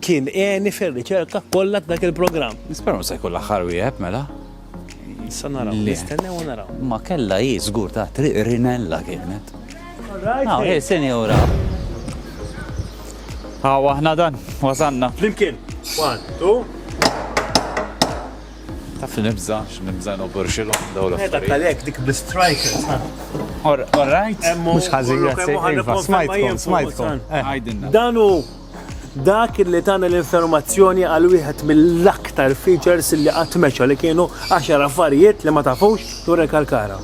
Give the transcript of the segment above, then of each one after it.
Kien għeni fir-riċerka kollha t'dak il-programm. Nispera mhux se jkun l-aħħar wieħed mela. Issa naraw, nistennew u naraw. Ma kellha hi żgur ta' triq rinella kienet. Hawn hi sinjura. Hawn aħna dan, wasanna. Flimkien. One, two. Taf li nibża, x'nibża noborxilhom daw l-affarijiet. Dak għalhekk dik bl-strikers. All right. Mhux ħażin, grazzi. Smajtkom, smajtkom. Dan hu Dak li tana l-informazzjoni għal wieħed mill-aktar features li qatt meċa li kienu 10 affarijiet li ma tafux dwar il-kalkara.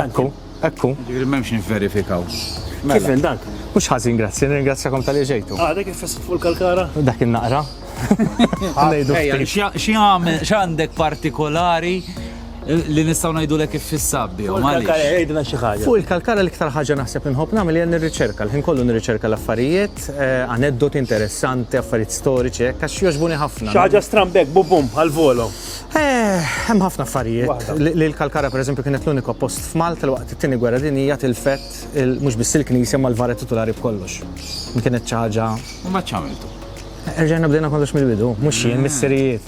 Ekku, ekku. Ġifieri m'hemmx nivverifikaw. Kif mela. dak? Mhux ħażin, grazzi, nirringrazzjakom tal-li ġejtu. Ah, dak il-fest fuq il-kalkara? Dak il-naqra. Xi għandek partikolari li nistaw najdu l kif fissabbi. Fuq il-kalkara l-iktar ħagġa naħseb nħob namel jen nirriċerka, l-ħin kollu nirriċerka l-affarijiet, Art, aneddoti interessanti, affarijiet storiċi hekk għax jogħġbuni ħafna. Xi ħaġa stramba hekk bum bum għal volo. Hemm ħafna affarijiet. Li l-Kalkara pereżempju kienet l-uniku post f'Malta li waqt it-Tieni Gwerra Dinjija tilfet mhux biss il-knisja imma l-vara titulari b'kollox. Din kienet xi ħaġa. Imbagħad x'għamiltu? Erġajna bdejna kollox mill-bidu. Mhux jien, missirijiet.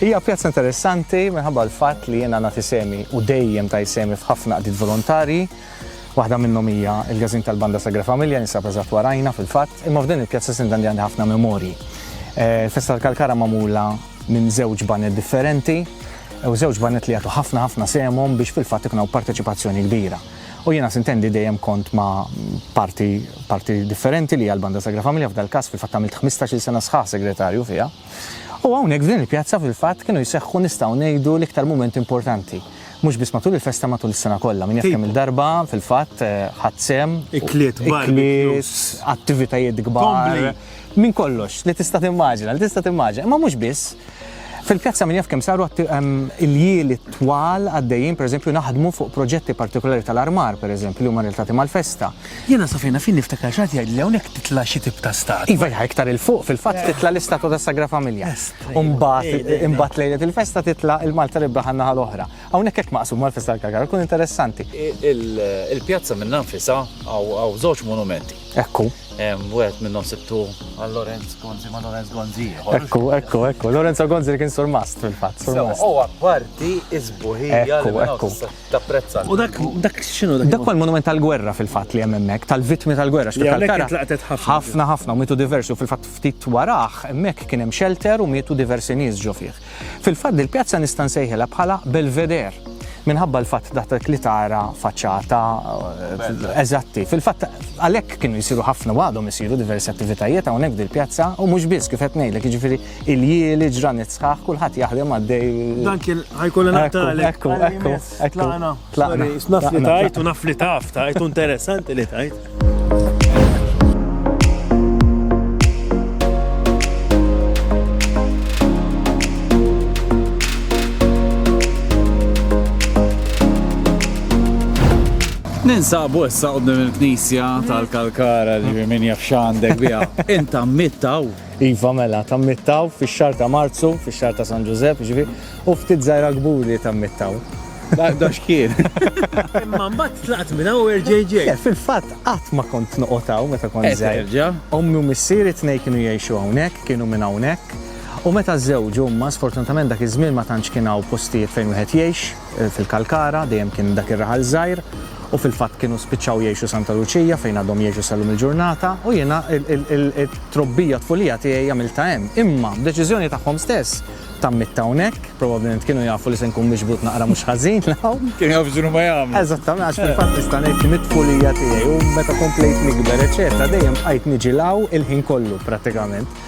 Hija pjazza interessanti minħabba l-fatt li jiena nagħti sehmi u dejjem tajt sehmi f'ħafna qdiet volontarji. Waħda minnhom hija l-Każin tal-Banda Sagra Familja li jinsab eżatt warajna fil-fatt, imma f'din il-pjazza Sinda għandi għandi ħafna memorji. Il-festa tal-Kalkara magħmula minn żewġ baned differenti u żewġ baned li jagħtu ħafna ħafna sehemhom biex fil-fatt ikun hawn parteċipazzjoni kbira. U jiena sintendi dejjem kont ma' parti parti differenti li hija l-Banda Sagra Familja f'dal-każ fil-fatt għamilt ħmistax-il sena sħaħ segretarju fiha. U hawnhekk f'din il-pjazza fil-fatt kienu jseħħu nistgħu ngħidu l-iktar mumenti importanti. Mhux biss matul il-festa matul is-sena kollha. Min jaf kemm-il darba fil-fatt ħadt sehem. Ikliet, barbecues. Attivitajiet kbar. Minn kollox li tista' timmaġina, li tista' timmaġina. Imma mhux biss. Fil-pjazza min jaf kemm saru il-jieli twal għaddejjin, pereżempju, naħdmu fuq proġetti partikulari tal-armar, pereżempju, li huma relatati mal-festa. Jiena sa fejn naf jien niftakar xi ħadd jgħidli hawnhekk titla' xi tip ta' statwa. Iva iva, iktar 'il fuq fil-fatt titla' l-istatwa tas-Sagra Familja. U mbagħad imbagħad lejlet il-festa titla' il-Malta Rebbeħa għan-naħa l-oħra. Hawnhekk hekk maqsuma għall-festa tal-Kalkara, tkun interessanti. Il-pjazza minnha nfisha hawn żewġ monumenti. Ekku. Wieħed minnhom sibtu għal Lorenz Gonzi, ma' Lorenz Gonzi ieħor. Ekku, ekku, ekku. Lorenzo Gonzi li kien surmast fil-fatt, surmast. Sewa, u apparti s-sbuħija li. Ekku, ekku. tapprezza. U dak dak x'inhu dak? Dak huwa l-monument tal-gwerra fil-fatt li hemm hemmhekk, tal-vittmi tal-gwerra. Li hawnhekk intlaqtet ħafna. Ħafna ħafna u mietu diversi u fil-fatt ftit warah hemmhekk kien hemm xelter u mietu diversi nies ġo fih. Fil-fatt dil-pjazza nista' nsejħilha bħala Belvedere minħabba l-fatt dak li tara faċċata eżatti. Fil-fatt għalhekk kienu jsiru ħafna u għadhom isiru diversi attivitajiet hawnhekk f'dil-pjazza u mhux biss kif qed ngħidlek jiġifieri Iljieli, ġranet sħaħ, kulħadd jaħdem għaddej. Dan kien ħajkollu naqtali. Ekku, ekku, ekku. Tlaqna. Tlaqna. Naf li tajt u naf li taf tajt u interessanti li tajt. Ninsabu issa qoddim il-knisja tal-kalkara li minn jafxandek bija. Inta mittaw. Iva mela, tammittaw fix-xahar ta' Marzu, fix-xahar ta' San Ġużepp, ġifi, u ftit żgħira kburi tammittaw. Da xkien. Imma mbagħad tlaqt minn hawn erġejġej. Eh, fil-fatt qatt ma kont noqotaw meta kont eh, żgħir. Ommi u missieri tnej kienu jgħixu hawnhekk, kienu minn hawnhekk. U meta żewġu huma sfortunatament dak iż-żmien ma tantx kien hawn postijiet fejn wieħed jgħix. fil-Kalkara, dejjem kien dak ir-raħal żgħir u fil-fatt kienu spiċċaw jgħixu Santa Luċija fejn għadhom jgħixu sal-lum il-ġurnata u jiena t-trobbija tfulija tiegħi għamiltha hemm. Imma, b'deċiżjoni tagħhom stess, tammitt hawnhekk, probabbilment kienu jafu li se nkun miġbud naqra mhux ħażin 'l hawn. Kienu jafu x'inhu ma jagħmlu. Eżattament, għax fil-fatt nista' ngħid li mit-tfulija tiegħi u meta komplejt nikber eċċetera dejjem bqajt niġi 'l hawn il-ħin kollu prattikament.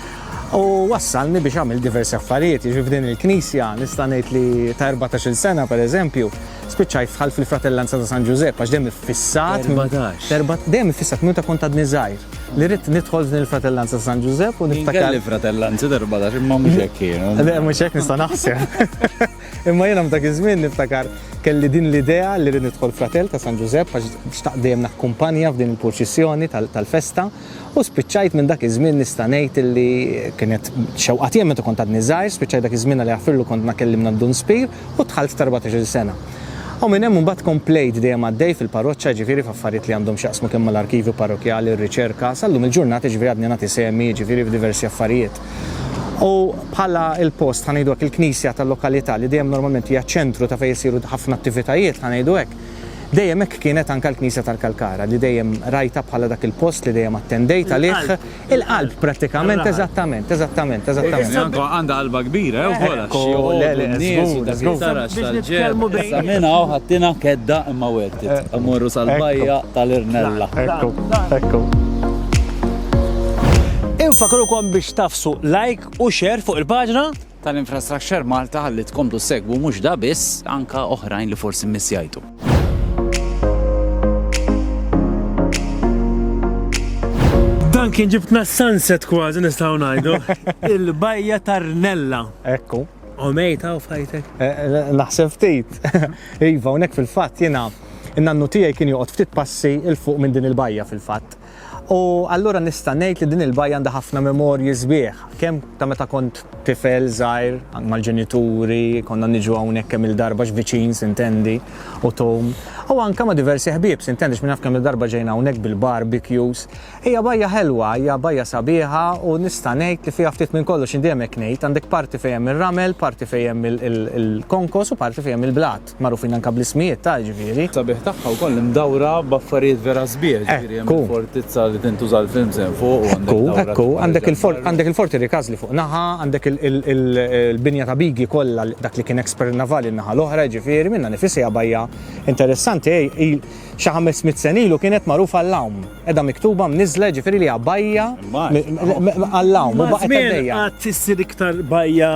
U wassalni biex għamil diversi affarijiet, jiġifieri f'din il-Knisja nista' ngħid li ta' 14-il sena pereżempju, spiċċajt fħal fil-Fratellanza ta' San Ġużepp għax dejjem iffissat. Erbatax. Dejjem iffissat minn meta kont għadni żgħir li ridt nidħol f'din il-Fratellanza ta' San Ġużepp u niftakar. Jien kelli fratellanzi ta' erbatax imma mhux hekk kienu. Le mhux hekk nista' naħseb. Imma jiena f'dak iż-żmien niftakar kelli din l-idea li rrid nidħol fratell ta' San Ġużepp għax xtaqt dejjem nakkumpanja f'din il-purċissjoni tal-festa. U spiċċajt minn dak iż-żmien nista' ngħid illi kienet xewqa tiegħi meta kont għadni żgħir, spiċċajt dak iż-żmien Alla jaħfirlu kont nakellimna d-Dun Spir u dħalt f'tarbatax-il sena. U minn hemm imbagħad komplejt dejjem għaddej fil-parroċċa jiġifieri f'affarijiet li għandhom x'jaqsmu kemm mal-arkivju parrokkjali, r-riċerka, sal-lum il-ġurnata jiġifieri għadni nagħti sehmi jiġifieri f'diversi affarijiet. U bħala l-post ħa ngħidu hekk il-knisja tal-lokalità li dejjem normalment hija ċ-ċentru ta' fejn isiru ħafna attivitajiet ħa ngħidu hekk, Dejjem hekk kienet anke l-Knisja tal-Kalkara, li dejjem rajtha bħala dak il-post li dejjem attendejt għalih, il-qalb prattikament, eżattament, eżattament, eżattament. Anke għandha qalba kbira, jew żgur għax xi jgħodu n-nies u dak li tara x'tal-ġenn. Issa minn hawn ħadtina kedda imma wertet. Immorru sal-bajja tal-Irnella. Ekku, ekku. Infakrukom biex tagħfsu like u share fuq il-paġna. tal-Infrastructure Malta ħalli tkomplu ssegwu mhux da biss anke oħrajn li forsi mmissjajtu. Dan kien ġibtna sunset kważi nistgħu ngħidu. Il-bajja tarnella. Ekku. U mejta u fajtek. Eh, eh, naħseb ftit. Iva, unek fil-fatt jiena in-nannu tiegħi kien joqgħod ftit passi il fuq minn din il-bajja fil-fatt. U allura nista' ngħid li din il-bajja għandha ħafna memorji sbieħ, kemm ta' meta kont tifel żgħir mal-ġenituri, konna niġu hawnhekk kemm-il darba, x'viċin s'intendi, u Tom, u anke ma' diversi ħbieb, s'intendi, x'min jaf kemm-il darba ġejna hawnhekk bil-barbecues. Hija bajja ħelwa, hija bajja sabiħa u nista' ngħid li fiha ftit minn kollox, jien dejjem hekk ngħid, għandek parti fejn hemm ir-ramel, parti fejn hemm il-konkos u parti fejn hemm il-blat. Magħrufin anke bl-ismijiet ta' jiġifieri. Sabiħ tagħha wkoll imdawra b'affarijiet vera sbieħ, jiġifieri hemm il-fortizza li tintuża l-films hemm fuq u għandek dawra ta' Ekku, ekku, għandek il-Forti Rikazli fuq naħa, għandek il-binja ta' Bigi kollha dak li kien expert navali n-naħa l-oħra jiġifieri, minnha nifisha hija bajja interessanti, xi ħames mitt sena ilu kienet magħrufa għall-għawm, qiegħda miktuba mniżżla jiġifieri li hija bajja għall-għawm u baqgħet għaddejja. Maż-żmien qgħadt issir iktar bajja.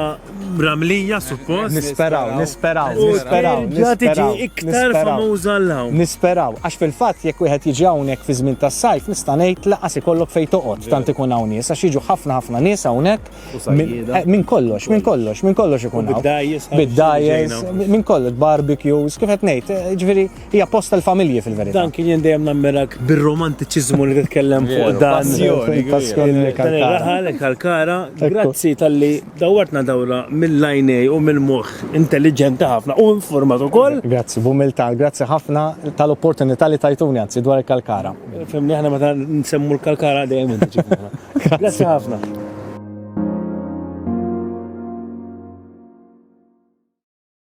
Mramlija suppost. Nisperaw, nisperaw, nisperaw. Terġa' tiġi iktar famuża għal hawn. Nisperaw, għax fil-fatt jekk wieħed jiġi hawnhekk fi żmien tas-sajf nista' ngħid lanqas ikollok fejn toqgħod tant ikun hawn nies għax jiġu ħafna ħafna nies hawnhekk. Minn kollox, minn kollox, minn kollox ikun hawn. Bid-dgħajjes, minn kollox, barbecues, kif qed ngħid, jiġifieri Hija post tal-familji fil-verità. Dan kien jien dejjem nammirak bir-romantiċiżmu li titkellem fuq dan. Raħal Kalkara, grazzi tal-li dawwartna dawra mill-lajnej u mill-moħħ intelliġenti ħafna u informat ukoll. Grazzi, b'umiltà, grazzi ħafna tal-opportunità li tajtuni anzi dwar il-Kalkara. Fimni aħna meta nsemmu l-Kalkara dejjem Grazzi ħafna.